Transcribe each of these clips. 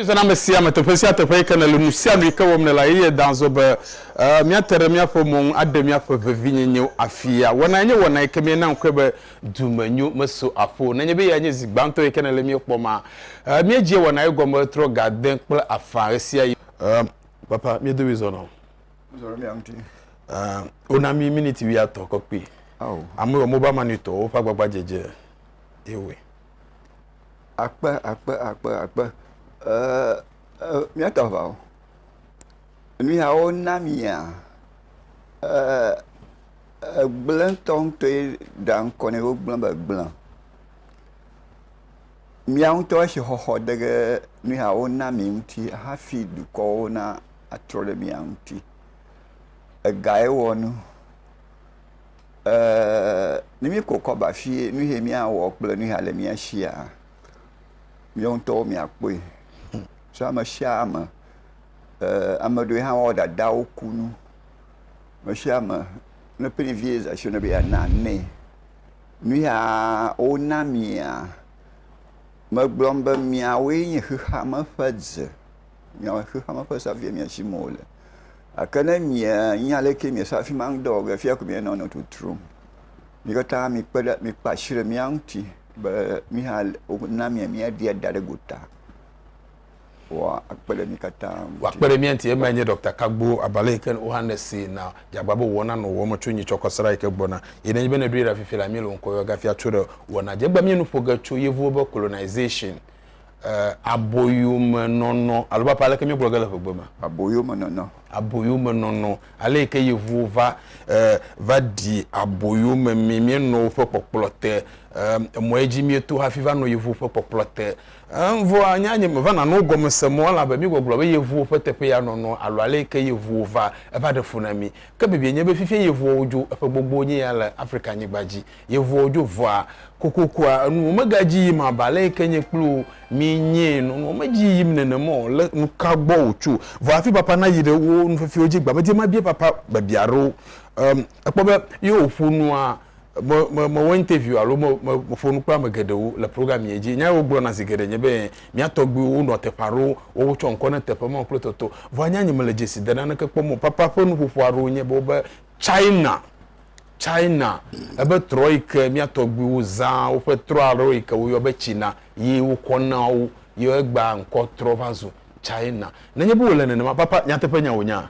zana ame sia ame teƒe sia teƒe yi ke nele nu sia nu yi ke wɔm nela eye dan zɔ be eh, míate ɖe míaƒe mo ŋu aɖe míaƒe vevinyenyewo afia wɔna enye wɔna yi ke míena ŋkɔe be Dumenyo meso aƒo o. Nenye be eyae nye zi gbãtɔ yi ke nèle mía kpɔma, míedzia wɔna ye gɔme trɔ ga de kple afã ɣesiaɣi. Ɛ̃, Papa, mía dome zɔ nɔ. Zɔ ɖe mía ŋuti. Ɛ̃, wona mí miniti wuiatɔ̃ kɔ kpi. Ao. Ame wɔ Mobile Money tɔwo ƒe agbagbadzedze ye wɔe. Akpe, akpe, akpe, akpe. Ɛ̃, ɛ̃, míate aʋa o. Nuyawo na mia? Eeeee gblẽ ŋutɔŋutɔe ɖea ŋkɔ nɛ. Wogblẽ be gblẽ. Mía ŋutɔ asixɔxɔ de ge nuyawo na mi ŋuti hafi dukɔwo natrɔ ɖe mia ŋuti. Egae wɔ nu. Eeeeee ne míeko kɔ aba fie nu yae míawɔ kple nu ya le mía shia, míawo ŋutɔwo míakpɔe. So ameshiame. eer ame aɖewo hã woa dadawo kunu. Ame sia ame ne ƒe ɖevi yɛ zasɛ na be yeana nɛ. Nu yaaa wona amia, megblɔm be miawoe nye xexeame ƒe dze. Miawoe nye xexeame ƒe safi mia tsi me wole. Gake ne mienya ale yike miese afi ma ŋudɔ wɔge afi ya ko mianɔ nɔ totrom. Mi katã mikpe ɖe mikpe asi ɖe mía ŋuti be mí hã wona mia míaɖia da ɖe gota. Woakpe ɖe mí katã ŋuti. Woakpe ɖe mía ŋuti. Emae nye Ɖɔkta Kagbo abe ale yi ke wohã nèsee na dzagba be wòwɔna nɔ wòwɔm tso nyiitsɔkɔsrã yi ke gbɔna yi nenye be nèɖoe ɖa fifi la, míele wò ŋkɔ yɔ gafia tso ɖe wɔna dzi. Egbea míe nu ƒo ge tso Yevuwo be colonization, aboyomenɔnɔ alo be ale yi ke míegblɔ ge le ƒegbe me. Aboyomenɔnɔ. Aboyomenɔnɔ, ale yi ke Yevuwo va, va ɖi aboyomemee. Míenɔ woƒe kpɔkplɔ te. Emɔ ye dzi míeto hafi va nɔ Yevuwo ƒe kpɔkplɔ te. Evɔa, nya nye meva nano wo gɔme se mɔ elabe mi gbɔgblɔ be yevuwo ƒe teƒe ya nɔnɔ alo aleyike yevuwo va, eva ɖe fu na mi. Ke bibiɛ nye be fifie yevuɔwo dzo, eƒe gbogbowo nye ya le Afrika nyigba dzi. Yevuɔwo dzo vɔa, kokokoa, enuwo mega dzi yim abe aleyike nye kpli wo mi nye nɔnɔ medzi yim nene mɔ le nuka gbɔ wotso. Vɔa hafi papa nayi ɖe wo nufefiwo dzi gbamedie mabia papa biabia aɖewo. Ekpɔ be ye wòƒo nua, me, me, mewɔ interview alo me, me, meƒo nu kple ame geɖewo le programme ye dzi. Nya ye wogblɔna zi geɖe nye be, Mía tɔgbuiwo wonɔa teƒe aɖewo, woawo wotsɔ ŋkɔ na teƒe mawo kple tɔtɔ. Vɔa nya nye mele dzesi de naneke kpɔm o. Papa ƒe nuƒoƒo aɖewo nye be wobe, China, China, ebe trɔ yi ke mía tɔgbuiwo zãa woƒe trɔ aɖewo yi ke woyɔ be tsina ye wokɔ na wo, ye egbea ŋkɔ trɔ va zu China. Nenye be wòle nenema, papa, nyateƒe nya wònyea?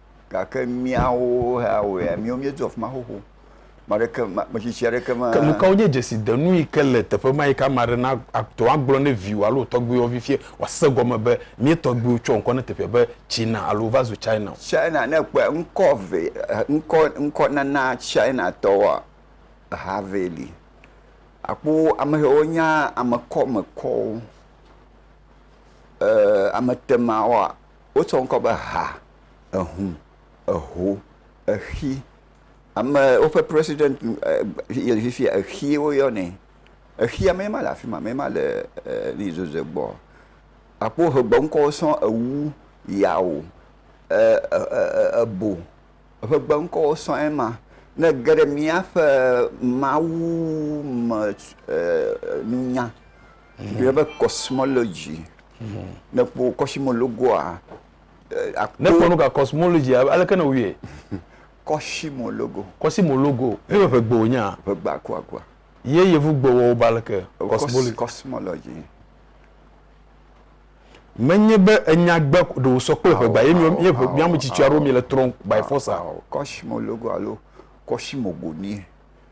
Gake míawo hea wɔea, míawo míedu afi ma xoxo. Ame aɖeke, ame tsitsi aɖeke me. Ke nu kawo nye dzesidenu yi ke le teƒe ma yi ke ame aɖe na, ate ŋu agblɔ ne viwò alo wò tɔgbuiwò vivie wòase egɔme be mía tɔgbuiwo tsɔ ŋkɔ na teƒea be China alo wova zu China o? China, ne èkpɔe, ŋkɔ eve, ŋkɔ, ŋkɔnana Chinatɔwoa, eha evee li. Àkpɔ ame siwo wonya amekɔmekɔwo, e, ametemawoa, Wotsɔ ŋkɔ be ha, ehu, eho, exi. Ame woƒe president le fifia exie woyɔnɛ. Exia mee ma le afi ma, mee ma le e zozoe gbɔ. Akpɔ woƒe gbeŋkɔwo sɔŋ ewu, yawo, e e ebo. Eƒe gbeŋkɔwo sɔŋ ye ma. Ne ege ɖe míaƒe Mawu me e nunya. Ɖe be cosmology. Ne kpɔ cosmologoa. Ne kpɔ nu ka cosmology aleke ne wuyɛ? Cosmologo. Cosmologo. Ne be ƒegbe wonya. Ƒegbe akuakua. Ye yevu gbe wɔwo ba aleke? Cosmology. Cosmology. Menye be enya gbe ɖe wosɔ kple ƒegba ye mi ye ƒe mi ametsitsi aɖewo mi le trɔm by force. Cosmologo alo cosmogonie.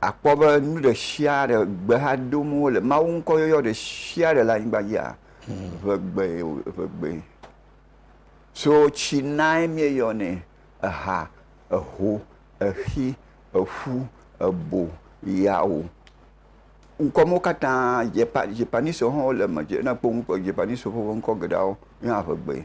Akpɔ be nu ɖe sia ɖe gbe hã dom wole. Mawu ŋkɔ yɔyɔ ɖe sia ɖe le anyigba dzia, ŋegbee o, ŋegbee. So tsi nae míeyɔnɛ, eha, eho, exi, eƒu, ebo, yawo. Ŋkɔ mawo katã, Japa, Japaniswo hã wole eme. Ne èkpɔ ŋkɔ Japaniswo ƒe ŋkɔ geɖeawo, míeyɔna ŋegbee.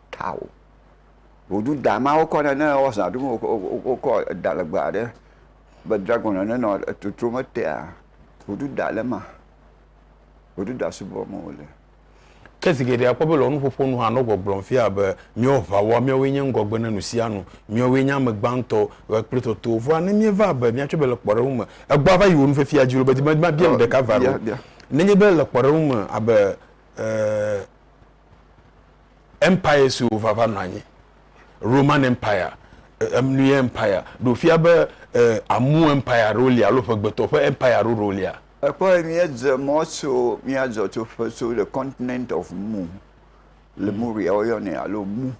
ta o. Woɖu da ma wokɔ nɛ ne ewɔ zã ɖum wokɔ da legbe aɖe be dragon ene nɔ totrom etea woɖu da ɖe ema. Woɖu da subɔ me wole. Ke zi geɖe akpɔ be le wò nuƒoƒo nu hã nɔ gbɔgblɔm fia be míawo ʋawoa míawoe nye ŋgɔgbe ne nusianu, míawoe nye ame gbãtɔ ɣe kple totowo. Vɔa ne míeva be míatsɔe be le kpɔɖeŋu me egbɔa va yi wò nufifia dzi loo be di be mabia nu ɖeka va ɖo nenye be le kpɔɖeŋu me abe eh, Empire siwo va va nɔ anyi. Roman Empire, Emnui Empire, ɖo fia be Amu Empire aɖewo li alo ƒegbetɔ ƒe Empire aɖewo ɖewo lia. Ekpɔe míedze mɔ tso mía zɔtsoƒe tso le continent of Mu, Lemuria woyɔnɛ alo Mu.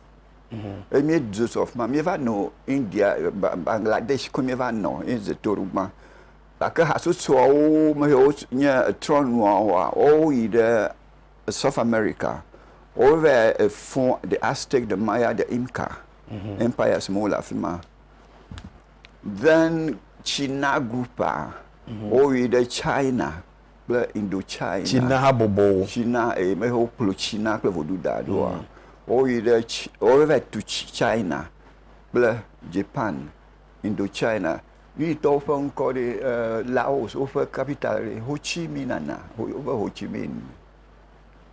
Eye míedzo tso afima míeva nɔ India, Bangladesh koe míeva nɔ ye dze to ɖo gbã. Gake hasotsoawo me yiwo nye etrɔnuawoa, woawo yi ɖe South America, wova fɔ the Aztec, the Maya, the Inca mhm. empires me wole afi ma. Then China group a mhm. woyi ɖe China kple Indochina. China habɔbɔwo. China eye eh, me wokplɔ China kple vodu da ɖoa. Mhm. Woyi ɖe wova tu China kple Japan, Indochina. Yuyitɔwo ƒe ŋkɔ ɖe? Laos woƒe capital ɖe? Ho Chi Minh Nana, wobe Ho Chi Minh.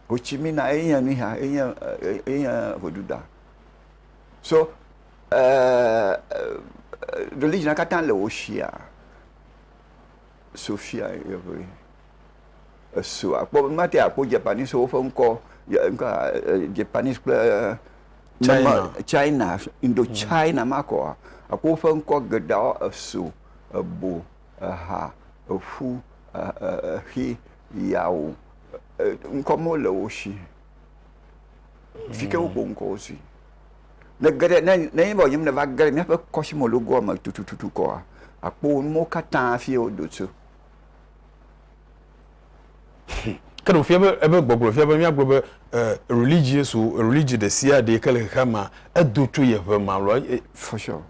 Ho Chi Minh na enye nuya, enye enye ʋeɖuɖa. So religion katã le wo shia. Sophia yewoe. esu akpɔ mate akpɔ Japanese wo ƒe ŋkɔ Japanese kple China China Indo China ma kɔa akpɔ wo ƒe ŋkɔ geɖeawo esu ebo eha eƒu exi yawo ŋkɔ mewo le wo si fi ke wokpɔ ŋkɔ wo si ne ge ɖe ne ne nye be wònyem ne va ge ɖe míaƒe kɔsimologoa me tutututu kɔa akpɔ wo nuwo katã fi wodo tso. Ke ɖewofiã be ebe gbɔgblɔ fiã be míagblɔ be religion so religion ɖe sia ɖe ke le xexea mea edo tso ye ʋe ma lɔ e for sure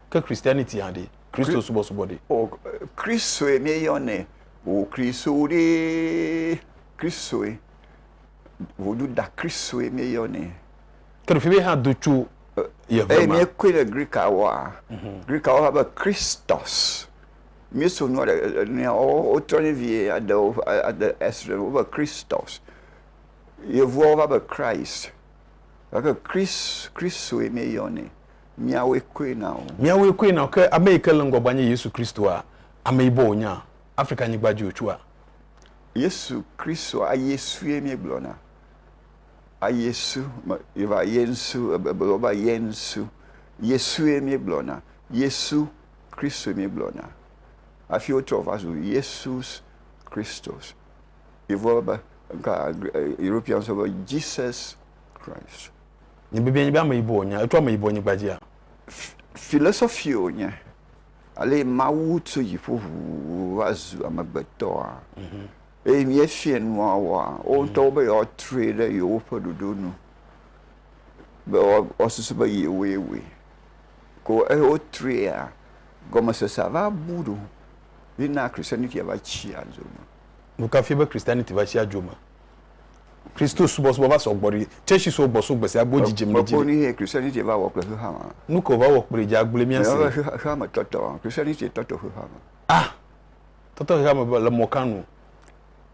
ke christianity hã ɖe kristo subɔsubɔ ɖe o kristoe mi yɔ ne o kristo ɖe kristoe vodu da kristoe mi yɔ ne ke ɖewofiã be hã do tso ye ʋe ma e mi koe le grika wɔa mhm. grika wɔa be christos míeso nua ɖe e nua wo wotrɔnɛ vie aɖe wo aɖe esrɔ̃ wo be Christos. Yevuawo va be Christ. Gake Christ Christoe míeyɔnɛ. Míawoe koe na wo. Míawoe koe na wo. Ke ame yi ke le ŋgɔgbea nye Yesu Christoa, ameyibɔ wònye a? Afrika nyigba dzi wòtso a? Yesu Christoa aYesue míegblɔna. AYesu me yeva Yensu ebe ebe wova Yensu. Yesue míegblɔna. Yesu. Kristo míegblɔna hafi wotrɔ va zu Yesus Kristus. Yevuwo be, ŋka Europeans wo be Jesus Christ. Nye bibiae nye be ameyibɔ wònye, etso ameyibɔnyigba dzia? Philosophy wònye, ale Mawu tso dziƒo ʋuu va zu amegbetɔa. Mhm. Eye míefiɛ nua wɔa, wo mhm. ŋutɔwo be yewoatrɔe ɖe yewoƒe ɖoɖo nu, be woasusu be yewoe wɔe. ko eye wotrea gɔmesesea va bu ɖo ye na Christianity va tsi adzo me. Nu ka fia be Christianity va tsi adzo me? Kristo subɔsubɔ va sɔ gbɔ ɖi. Tsɛtsi so gbɔ so gbesia gbe wo dzidzim le dzi. Kpɔkpɔ nuye Christianity va wɔ kple xexea me. Nu kae wòva wɔ kplii dze agble mía si? Mewɔ be xexeame tɔtɔ. Christianity tɔtɔ xexeame. A. Tɔtɔ xexeame le mɔ ka nu?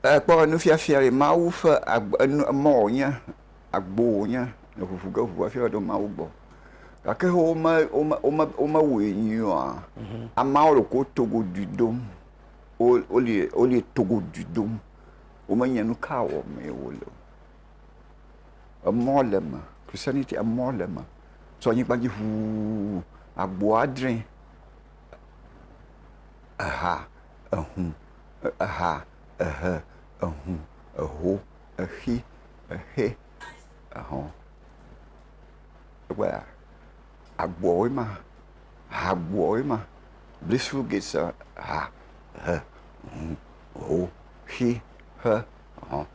Ekpɔ be nufiafia ɖi Mawu ƒe agbe enu emɔ wònye, agbo wònye le ŋuŋu ge ŋu hafi aɖo Mawu gbɔ. Gake wome wome wome womewɔe nyuie oa? Ameawo le ko togoɖui dom. Wo woli woli togoɖui dom. Womenye nu ka wɔm ye wo le o. Emɔ le eme. Christianity emɔ le eme. Tso anyigba dzi ŋuu agboa dre eha ehũ, eha, ehe, ehũ, eho, exi, exe, ehɔ̃. Kpɔa, agboawoe ma, hagboawoe ma. This few gates are ha, ehe, ehũ, eho, exi, exe, ehɔ̃.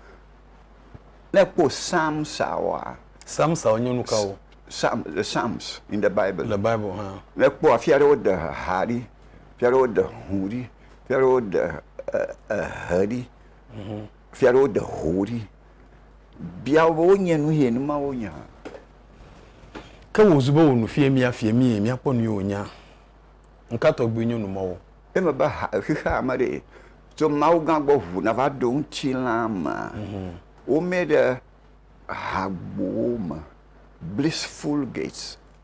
Ne èkpɔ Psalms-awoa, Psalms-awo nye nu kawo? Psalm, the Psalms in the Bible. Le Bible hã. Ne èkpɔ afi aɖe wode ha ɖi, fia aɖewo ɖe ho ɖi, fia aɖewo ɖe ehe ɖi, fia aɖewo ɖe ho ɖi. Bia wo be wonye nu ye nu ma wonya. Ke wò zu be wò nufia mía fia mí ye míakpɔ nu ye wònya. Nuka tɔgbi nye nu mɔwo? Eme be ha xexea me ɖe tso Mawu gã gbɔ ʋu na va ɖo ŋutilã mea, womee ɖe hagbowo me, blissful gates.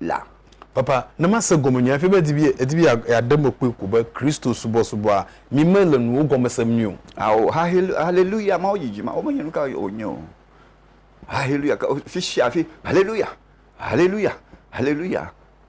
la. Papa, ne mase gɔmenyui hafi be edi be yeaɖe eme kpɔe ko be Kristo subɔsubɔa mi mele nuwo gɔme sem nyuie o. Ao, haleluya, Mawu dzidzi ma, womenye nu kawoe wònye o. Haleluya, fisia fi, haleluya, haleluya, haleluya,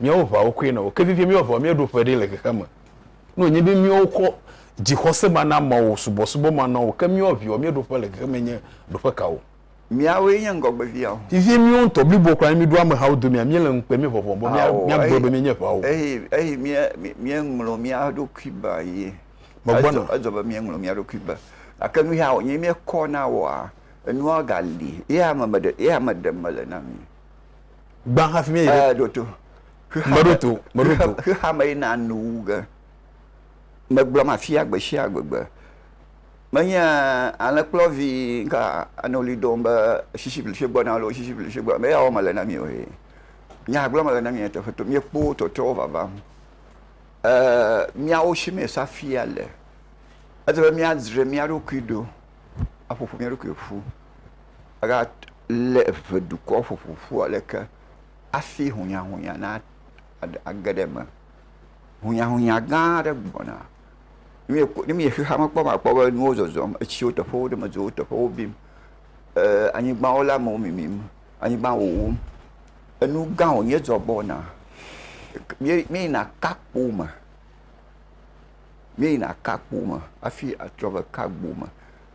Míawo ʋawo koe nɔ oke vivie, míawo ʋawo míeɖo ƒe ɖi le xexea me. Ne wònye be míawo kɔ dzixɔsemanɔamɔwo, subɔsubɔmanɔamɔwo ke míawo viwo míeɖo ƒe le xexea me nye ɖo ƒe kawo? Míawoe nye ŋgɔgbeviawo. Vivie míwo ŋutɔ blibo kura ne míɖo amehawo domea, míele ŋukpe, míevɔvɔ̃ be míagblɔ be míenye ʋawo. Eyi míeŋlɔ mía ɖokui be ye. Megbɔna. Edzɔ be míeŋlɔ mía ɖokui be. Gake nuya wònye míekɔ na woa, enua gali ye ame ɖe mele na mí. gbã hafi míeyi ɖe. ɖo to. meɖo to meɖo to. xexea me yina nu wu ge. megblɔm afia gbe sia gbegbe. menye alẽkplɔvi ka anɔ ɣli dom be sisi blifi gbɔ na loo sisi blifi gbɔ me yawo mele na mi o he. Nya gblɔm mele na mi nyateƒe to miekpɔ tɔtrɔwo vava. E miawo si me safia le. Ele be míadzre mía ɖokui ɖo aƒoƒo mía ɖokui ƒu aga. lé eve dukɔ ƒoƒo ƒu ale ke hafi hunyahunya nage ɖe eme. Hunyahunya gã aɖe gbɔna. Ne mieyi xexea me kpɔ la, akpɔ be nuwo zɔzɔm, etsiwo teƒe ɖe me dzro, teƒewo bim, e anyigbawo le amewo mimim, anyigba wowom. Enu gã wonye dzɔ gbɔna. Míeyina ka kpo me, míeyina ka kpo me hafi atrɔ va ka gbo me.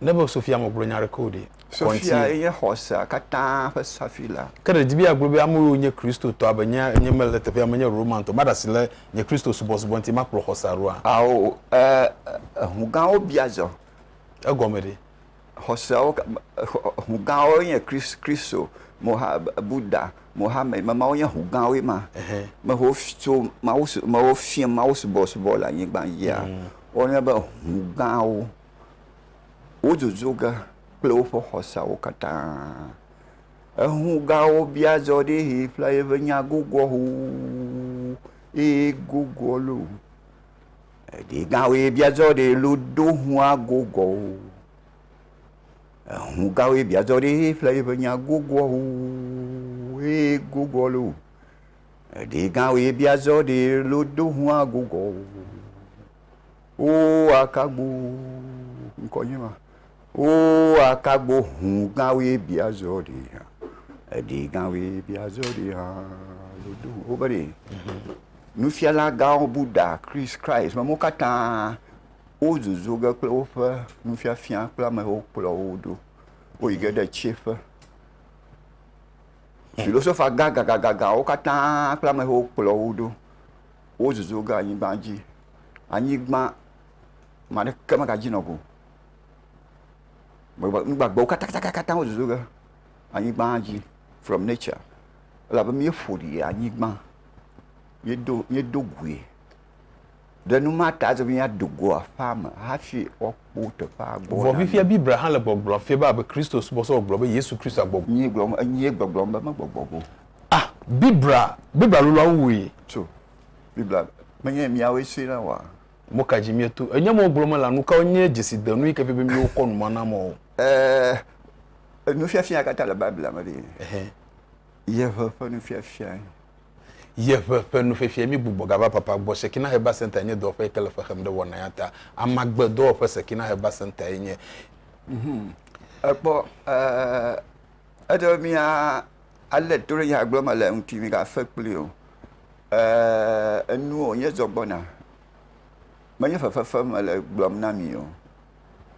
Ne be Sofia megblɔ nya aɖeke o ɖe? Sofia ye nye xɔsea katã ƒe safila. Ke ɖe di be yeagblɔ be ame yiwo nye Kristotɔ abe nye ene mele teƒea menye Romantɔ, maɖe asi le nye Kristo subɔsubɔ ŋuti, makplɔ xɔsea ɖoa? Ao, e, ŋu gãwo bia zɔ. Egɔme ɖe? Xɔseawo, ŋu gãwo nye Kristo, Moha, Buda, Mohammed, ma mawo nye ŋu gãwoe ma. Me ho tso mawu, me ho fia mawu subɔsubɔ le anyigba dzia, mm. wonye be ŋu gãwo. wodzodzro ge kple woƒe xɔseawo katã. Eŋu gawo bia zɔ ɖe ʋi ƒe eƒe nya gogoa ʋuu eye gogoa lo. Eɖe gã woe bia zɔ ɖe lo do ŋua gogoa ʋu. Eŋu gã woe bia zɔ ɖe ʋi ƒe eƒe nya gogoa ʋuu eye gogoa lo. Eɖe gã woe bia zɔ ɖe lo do ŋua gogoa ʋuu. Oo akagbo ŋkɔ nye ma. Oo akagbo ŋu gã woe bia zɔ ɖi hã. Eɖi gã woe bia zɔ ɖi hã. Woɖo ŋu be ɖe nufiala gãwo Buda, Christ, Christ mɔ katã wo zozo ge kple woƒe nufiafia kple amewo kplɔ wo ɖo. Wo yi ge ɖe tsiƒe. Philosophers gã gã gã gã gãwo katã kple amewo kplɔ wo ɖo. wozuzu ge anyigba dzi. Anyigba, ame aɖeke megadzi nɔ go o. Gbegbe, nu gbagbewo katãkatãkatã wozuzu ge anyigba dzi from nature elabe míeƒo ɖi le anyigba, míedo, míedo gui ɖe nu ma ta hafi hafi míado go aƒea me hafi woakpɔ teƒea gbɔ na mí. Vɔ fifia Biblia hã le gbɔgblɔm fia be abe Kristosubɔsubɔ gblɔ be Yesu Kristoe agbɔgbɔ. Nyee gblɔm, enyee gbɔgblɔm be megbɔgbɔ go o. Ah, Biblia, Biblia lolɔawo wui. Tso, Biblia, menye miawoe sue na wa. Mo ka dzi mieto? Enye mo gblɔ me la, nu kawo nye dzesidenu yi ke fia be miwo kɔ nu ma na mɔ o? Eh, nufiafia kata le Biblia me ɖi. Ehe. Yeʋe ƒe nufiafia. Yeʋe ƒe nufiafia, mi gbugbɔ gava papa gbɔ. Sekina Heba Center nye dɔwɔƒe yi ke le fexem ɖe wɔna ya ta. Amagbe dɔwɔƒe Sekina Heba Center ye nye. Mhm. Ekpɔ, eh, eɖe mia Ale to ɖe nya gblɔ me le eŋuti migafe kpli o. Eee, enu wònye zɔ gbɔna, menye fefe fem mele gblɔm na mi o.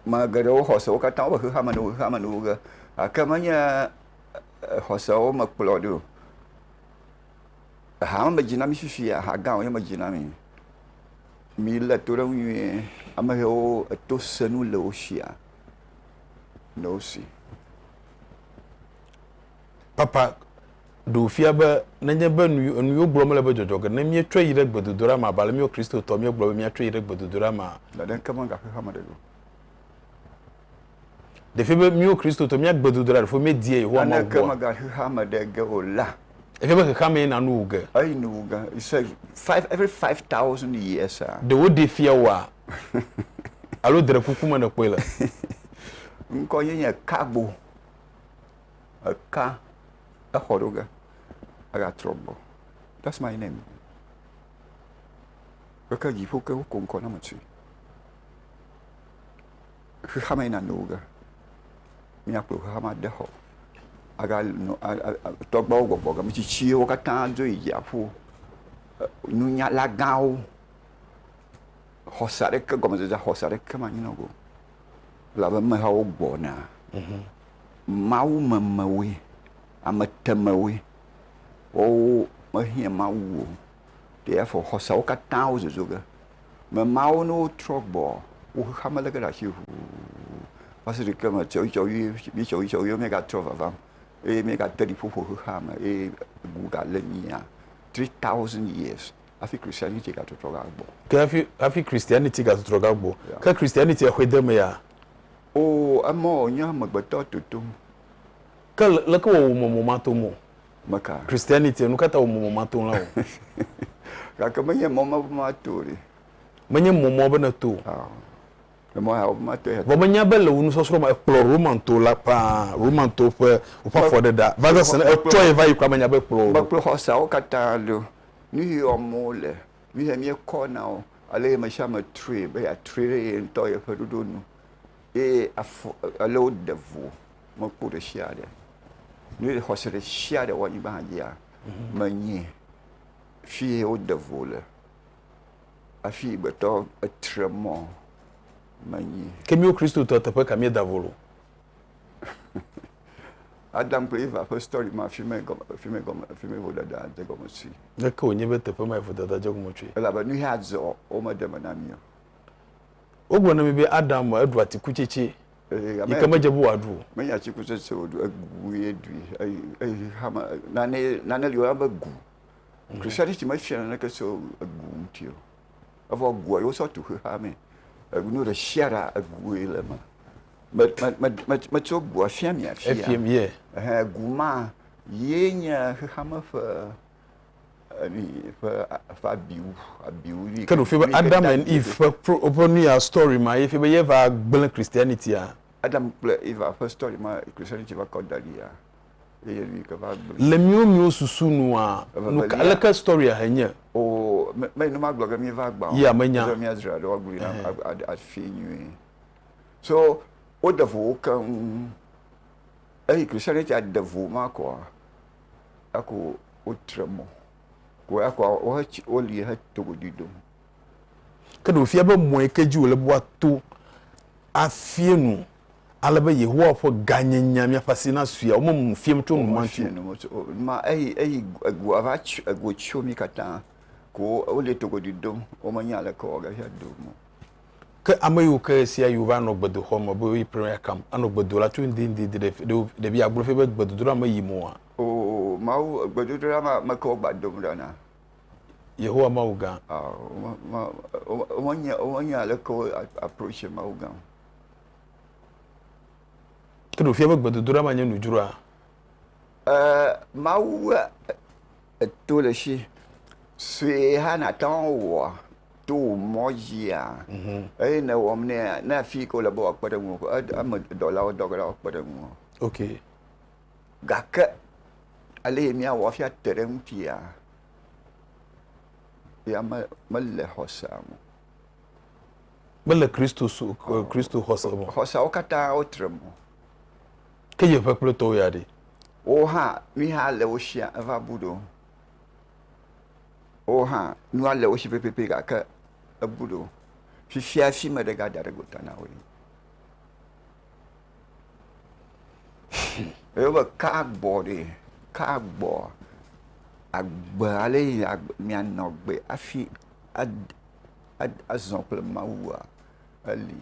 Me geɖewo xɔse wo katã woƒe xexeame nu xexeame nuwo ge gake menye xɔsewo me kplɔ ɖi o. Aha ma medzi na mi fifia, aha gã wònye medzi na mi. Milé to ɖe eŋu nyuie. Ame hewo eto senu le wo sia le wo si. papa ɖe wòfia be nenye be nu enu yewo gblɔ mele be dzɔdzɔ ge ne míetsɔe yi ɖe gbedodoɖa mea, abe ale míawo Kristotɔ míegblɔ be míatsɔe yi ɖe gbedodoɖa mea, Ɖeɖe ŋke mega xexea me ɖe o. Ɖefia be míwo Kristotɔ mía gbedodoɖa ɖefo míedia Yehowa Mawu Naneke gbɔa? mega xexea me ɖe ge o la. Efia be xexea mee na nu wu ge. Eyi nu wu ge. He said five every five thousand years a. Ɖe woɖee fia wòa? Alo dre kuku me nèkpɔe le? Ŋkɔ ye nye Cargo. eka exɔ ɖewo ge egatrɔ gbɔ ɖe afima yi nɛni gake dziƒo ke wokɔ ŋkɔ na me tsi xexeame yi nanewo ge míakplɔ xexeame ade xɔ aga nɔ tɔgbawo gbɔgbɔ game tsitsiwo katã dzo yi dziaƒo nunyala gãwo xɔse aɖeke gɔmedzedzea xɔse aɖeke manyi na wo o Elabe amehawo gbɔna, mawumemewoe, ametemewoe, woawo mehiã Mawu o, ɖe afɔ xɔseawo katã wozozo ge. Ame mawo ne wotrɔ gbɔ wo xexea me lé ge ɖe asi ʋuu va se ɖe kema tsɔwuitsɔwue, tsɔwuitsɔwue míegatrɔ vavam eye míegate ɖi ƒo ƒo xexeame eye ŋu galé mía three thousand years. hafi Christianity gatrɔtrɔ va gbɔ. Ke hafi hafi Christianity gatrɔtrɔ va gbɔ. Yeah. Ke Christianity exɔe de eme ya? Oo, emɔ o, nye amegbetɔ totom. Ke le, leke wɔ wòmɔ mɔ matom o? Meka. Christianity, nu ka ta wòmɔ mɔ matom la o? Gake menye mɔ ma be mato o ɖe. Menye mɔ ma be nèto o. Ao. Le mɔ ya wo be mato ya. Vɔ menya be le wò nusɔsrɔ̃ me ekplɔ Roman to la ƒãa, Roman to ƒe woƒe afɔɖeɖea, va zã se ne etsɔe va yi kura menya be ekplɔ wò ɖo. Mekplɔ xɔseawo katã ɖo. nu yi wɔm wo le, nu yi míekɔ na wo, ale ame sia ame trɔe be yeatrɔe ɖe ye ŋutɔ ƒe ɖoɖo nu eye afɔ ale woɖe vo mekpɔ ɖe sia ɖe. Ne xɔse ɖe sia ɖe wɔ anyigba hã dzia, mhm. menye fie woɖe vo le. Afi gbetɔ etre mɔ menye. Ke míwo Kristotɔ teƒe ka míeda vo lo? Adam kple Eva ƒe story ma fimee gɔme, fimee gɔme, fimee vodada dze gɔme tsoe. Ɖeke wònye be teƒe mae vodada dze gɔme tsoe. Elabe nu ya dzɔ wo meɖe me na mí o. Wogblɔ na mí be Adam eɖu atikutsetse yi ke medze be wòaɖu o. Menye atikutsetse wòɖu, egui ɖui eye hame nane nane li woyɔna be gu. Christianity mefia naneke tso egu ŋuti o. Evɔ gua ye wosɔ tu xexeamee. Enu ɖe sia ɖe egui le eme. Me, me, me, me, metso gua fia mi afia. Efia mi ye. Ɛhɛn, gu ma ye nye xexeame ƒe emi ƒe ƒe abiu abiu ni. Ke ɖo fi be Adam and Eve ƒe pro ƒe nu ya story ma ye fi be ye va gblẽ Christianity a. Adam kple Eva ƒe story ma Christianity va kɔ da ɖi ya eye mi ke va gblẽ. Le miwo miwo susu nua nu ka leke story a he nye. O me me ne magblɔ be mi va gbã o. Ya menya. Mia dzra ɖo agblɔ na afi nyuie. So woɖe vo wo keŋ. Eyi Christianitia ɖe vo ma kɔa, eko wotre mɔ. Ko ekɔ wohe tsi woli he togoɖui ɖom. Ke ɖe wòfia be mɔ yi ke dzi wòle be woato afia nu ale be Yehowa ƒe gãnyenyea míaƒe asi nasui ya, womemu nu fiam tso enumati o. Womefia nu me tso o. Numa eyi eyi egoa va tsɔ ego tsɔ mí katã ko woli togoɖui ɖom. Womenya aleke woawɔ gaxia do o. Ke ame yiwo ke ɣesiaɣi wova nɔ gbedoxɔ me be woyi prayer camp anɔ gbe do la tso ŋdi ŋdi di ɖe ɖe ɖe fia agblɔ fia be gbedodoɖa me yim oa? Oo, Mawu gbedodoɖa ma me ke wogba dom ɖa na. Yehowa Mawu gã. Ao, wome, wome, womenye, womenye aleke wo approacher Mawu gã o. Ke ɖe wòfia be gbedodoɖa ma nye nudzroa? Ɛɛ, Mawu ƒe. Eto le esi sue hã nàte ŋu awɔ to wò mɔ dzia? Eye ne ewɔm nɛa, na afi yi ke wòle be wòakpe ɖe ŋuwò ƒe ed- eme dɔlawo dɔ ge la woakpe ɖe ŋuwò. Ok. Gake ale yi míawɔ hafi ate ɖe eŋutia, ya me- mele xɔsea me o. Mele Kristo su- e, Kristo xɔse me o. Xɔseawo katã wotre mɔ. Ke yeƒe kplɔtɔwo ya ɖe? Wowo hã, nui hã le wo shia eva bu ɖo. Wowo hã, nua le wo shi pɛpɛpɛ gake ebu ɖo. Fifia hafi meɖe gada ɖe gota na woe. Eye wo be ka agbɔ ɖe, ka agbɔ. Agbe ale yi mia nɔ gbe hafi azɔ kple Mawua, eli.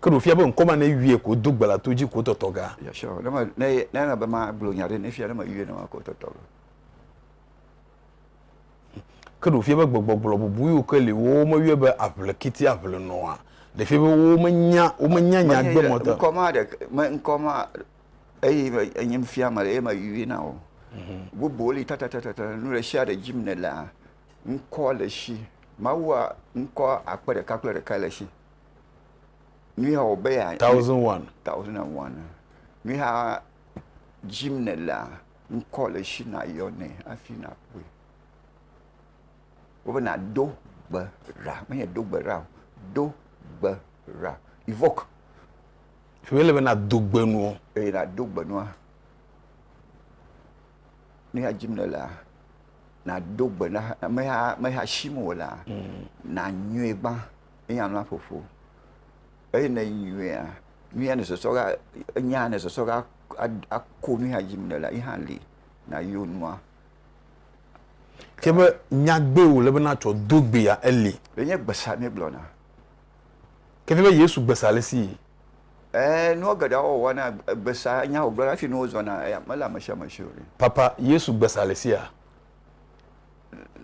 Ke ɖo fia be ŋkɔ ma ne yɔe ko do gbe la to dzi ko tɔtɔ ga. Yeah sure. Ne me ne ne na be ma gblɔ nya ɖe ne fia ne me yɔe ne ma ko tɔtɔ ga. Ke ɖo fia be gbegbɔgblɔ bubu yiwo ke li wo me yɔe be aʋle kiti aʋle nɔa. Ɖe fia be wo me nya wo me nya nya gbe mɔ ta. Ŋkɔ ma ɖe me ŋkɔ ma eye me enye me fia me le eye me yɔe na wo. Mhm. Bubu li tata tata tata nu ɖe sia ɖe dzi me le ŋkɔ le si. Mawu a ŋkɔ akpe ɖeka kple ɖeka le si. Thousand one. Thousand and one. Mi ha jim ne la ŋkɔ le shi na yɔ ne afi na kpɔe. Wo na do gbe ra me ye do gbe ra o do gbe ra evoke. Fi mi le be na do gbe nuɔ. Eye na do gbe nua. Mi ha jim ne la na do gbe na me ha me ha shi mo la mm. na nyuie gba. ne yɛalɔ aƒoƒo eye ne enyoea, nu ya nèsɔsɔ ɖa, enya ya nèsɔsɔ ɖa ako nu ya dim nèlea, ye hã li nàyo nua. Ke be nyagbe wòle be nàtsɔ do gbea eli. Ɖe nye gbesa míegblɔna? Ke nye be Yesu gbesa alesi? Ɛɛ, nua geɖea wowɔa na gbesa nya wògblɔna hafi nuwo zɔna mele amesiamesi o. Papa, Yesu gbesa alesia?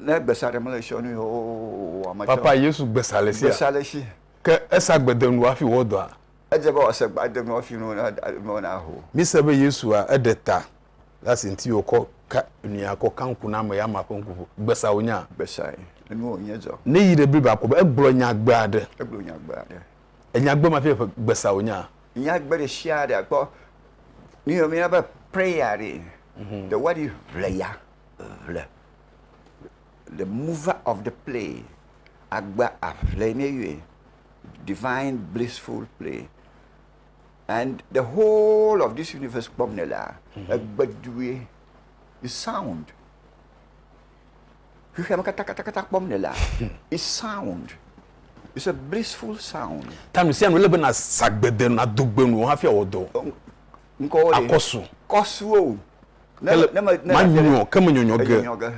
Ne gbesa ɖem le tsiɔ nui oo wòa metsɔ. Papa Yesu gbesa le sia. Gbesa le si. Ke esa gbe de nu hafi wòwɔ dɔa? Edze be wòase gbe ade nu hafi nuwo naho. Míse be Yesua eɖe ta le asi ŋuti wòkɔ ka nuya kɔ ka ŋku na ame ya ma ƒe ŋku ƒo. Gbesa wònya. Gbesae. Enu wònye dzɔ. Ne yi ɖe Biblia kpɔ be egblɔ nyagbe aɖe. Egblɔ nyagbe aɖe. Enyagbe ma fia be gbesa wònya. Nyagbe ɖe sia ɖe akpɔ. Míyɔ míayɔna be prayer ɖee. The word is ʋleya. ŋle. The mover of the play, agba aŋle ye mi yɔe. Divine blissful play and the whole of this universe kpɔm nèlea, egbe due. The sound, xexea me katãkatãkatã kpɔm nèlea, it's sound. It's a blissful sound. Ta nu sia nu ele be nàsa gbede nu, nàdo gbe nu hafi awɔ dɔ. Ŋkɔwo ɖe? Akɔsu. Kɔsuwo. Ne- Kele- ne me- ne ma maɖe- nyɔ ke me nyɔnyɔ ge. Enyɔnyɔ ge.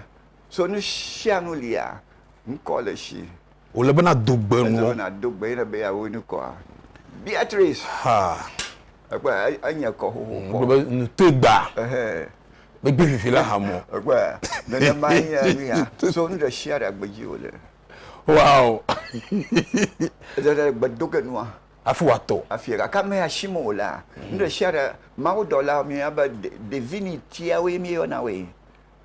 So nu sia nu lia, ŋkɔ le si. Wòle be nado gbe Ele nuɔ. be nàdo gbe ye ne be yeawo ŋkɔa. Beatrice, Ha. ekpɔe, e- enye kɔ xoxo Wogblɔ kpɔ. be nu toe gbaa. Ehɛ. Megbe vivi la ha mɔ. Ekpɔe, nenema nye nu ya. So nu ɖe sia ɖe agbe dzi wòle. Wow. Ede ɖe gbe do ge nua. hafi wòatɔ. Afia, gake measim o la, nuɖesiaɖe mawudɔla mía be divinitiawoe míeyɔna woe,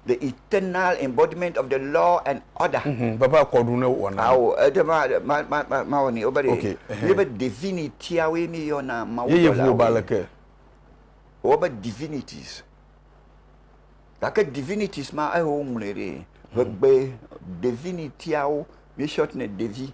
the eternal embodiment of the law and order. Vava ekɔ ɖu ne wowɔna nu. Ao, ede mawɔ nɛ. Wobe ɖe míebe divinitiawoe míeyɔna mawudɔlawoe. Yeye ŋu wò be aleke? Wobe divinities. Gake divinities ma eyi woŋlɔe ɖe, ƒegbe divinitiawo, míesɔtnɛ devi,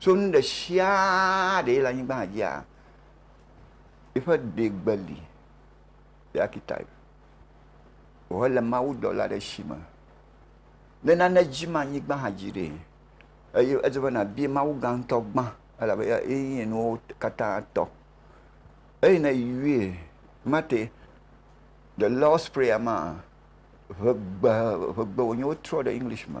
tso nu ɖe sia ɖe le anyigba dzia, eƒe ɖegbe li le archetype. Vɔ ele mawudɔla ɖe si me, ne nane dzim anyigba hã dzi ɖee. Eye edze be nàbia Mawu gã ŋutɔ gbã elabe ye nye nuwo katã tɔ. Eyi ne yɔe mate The Lord's Prayer maa, ʋegbe, ʋegbe wònye wotrɔ ɖe English me.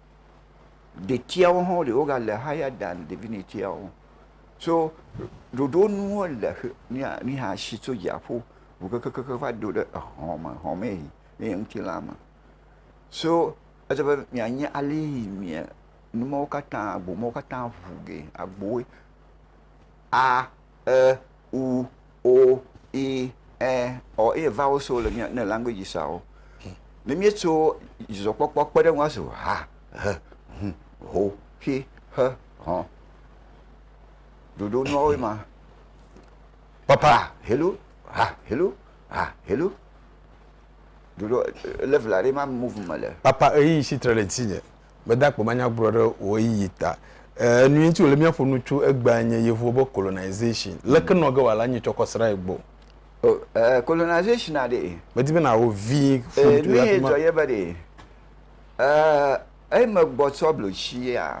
ɖetiawo hã wole woga le higher than divinityawo so ɖoɖo nu wole mi hã si tso dziaƒo ʋu kekekekekeŋ va do ɖe exɔ me exɔ me yi ne ye ŋutilã me so edze be mia nye ale yi mia nu mawo katã agbo mawo katã ʋu gee agbowoe a. e, u, o, i, ɛ, ɔ eye vawo so le mía ne language sawo. Ne míetso dzidzɔkpɔkpɔ kpe ɖe eŋu azu ha, he, hu, ho, xe, xe, hɔn. Ɖoɖo nuawoe ma. Papa, hello, ha, hello, ha, hello. Ɖoɖo level aɖe ma move me le. Papa, ɣeyiɣi si tre ɖe ŋutinye. mede akpe manyagblɔ ɖe wò ɣeyiɣi ta. Enu ŋuti wòle míaƒo nu tso egbea nye Yevuwo be colonization. Leke nɔ ge wòale anyi tsɔ kɔ srã ye gbɔ? O, ɛɛ, colonization a ɖee. Medi be nàwɔ vi ƒu Ee, ŋuti nu hafi ye ma. dzɔ ye be ɖee. Ɛɛ, eyi megbɔ tsɔ blotsia,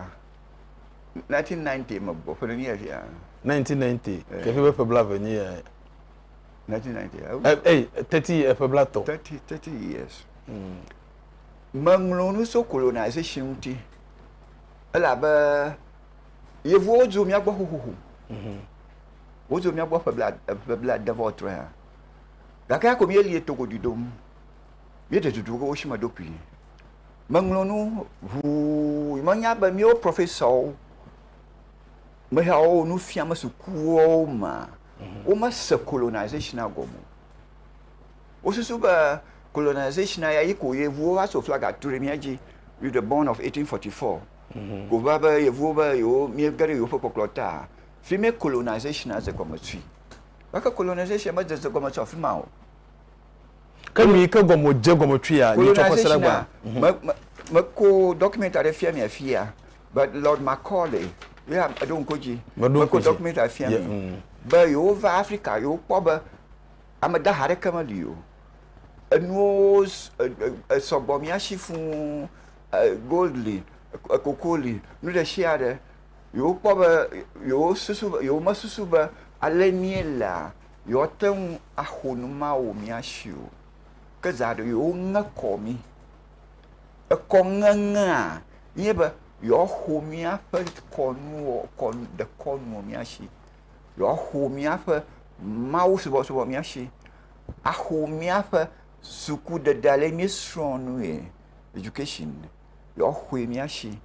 1990 megbɔ, ƒe ɖe nye fia. 1990, Ee. ke fia be ƒe blaeve nye eyae. 1990, Ɛ, ewu. ei, 30 ye, ƒe blatɔ̃. 30, 30 years. Meŋlɔ nu tso colonization ŋuti elabe yevuwo dzo mía gbɔ xoxoxo. Mhm. Wodzo mía gbɔ ƒe bla ƒe blaade vɔ trɔe hã. Gake ya ko míelie to godu dom. Míeɖe dudu wo si me ɖo kpui. Meŋlɔ nu ʋuu menya be míwo professor meheawo nu fiam sukuwo mea mhm. womese colonization gɔme o. Wosusu be colonization ya yi ko yevuwo va so flaga tu ɖe mía dzi with the born of 1844. Ko va be yevuwo be yewo mía ge ɖe yewo ƒe kpɔkplɔ ta. Fi mɛ colonization ya ze gɔme tui. Gake colonization me de ze gɔme tso afi ma o. Ke nu yi ke gɔme wo dze gɔme tui ya nyitsɔ ƒe se ɖe gbaa. Colonization ya me ko document aɖe fia mi afi ya be Lord Macaulay ye eɖo ŋko dzi. Me ko document ya fia mi be yewo va Africa yewo kpɔ be. Ame dahe aɖeke meli o. Enuwo sɔgbɔ mía si fũ. Gold li, koko li, nu ɖe sia ɖe. Yewokpɔ be, yewosusu be, yewomesusu be ale míelea, yewoate ŋu aho nu ma wɔ mía si o. Ke zã aɖe yewoŋe kɔ mí. Ekɔŋeŋea nye be, yewoaho míaƒe kɔnuwo, dekɔnu wɔ mía si. yewoaxɔ míaƒe mawusubɔsubɔ mía shi, axɔ míaƒe sukuɖeɖe ale yi míesrɔ̃a nue, education, yewoaxɔe mía shi,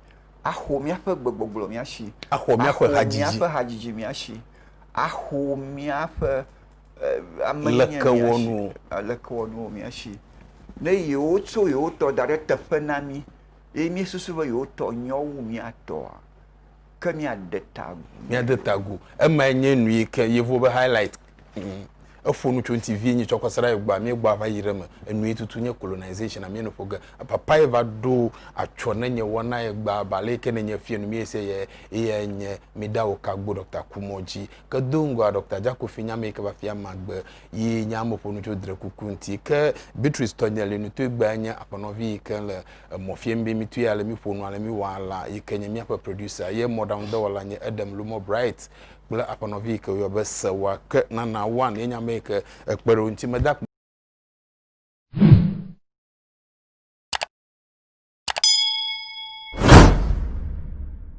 axɔ míaƒe gbegbɔgblɔ mía shi, axɔ míaƒe hadzidzi, axɔ míaƒe hadzidzi mía shi, axɔ míaƒe eh, ame mía shi, lekewɔnuwo mía shi. Ne yewotso yewotɔ da ɖe teƒe na mí ye míesusu be yewotɔ nyɔ wu mía tɔa, ke míade ta agu. Míade ta agu. Emae nye nu yi ke yevuwo be highlight. Mm. Eƒo nu tso ŋuti vie nyi tsɔ kɔsa ɖe gbɔa míegbɔ ava yi ɖe me. Enu yi tutu nye colonization amie nuƒo ge. Papa ye va ɖo atsɔ ne nye wɔna ye gba ba le ke ne nye fie nu mi se ye ye nye mi da wo ka gbo Dr. Kumɔ ji. Ke do ŋgɔa Dr. Jakofi nya me yi ke va fia magbe yi nya me ƒo nu tso dre kuku ŋuti. Ke Beatrice tɔ nye le nu to gba nye aƒenɔvi yi ke le Emɔ fiembimitɔe ale mi ƒonua ale mi wɔa la yi ke nye míaƒe producer ye mɔɖaŋu dɔwɔla nye Edem Lumɔ Bright kple aƒenɔvi yi ke woyɔ be Sewa ke Nana One ye nye ame yi ke ekpe ɖe wo ŋuti meda akpe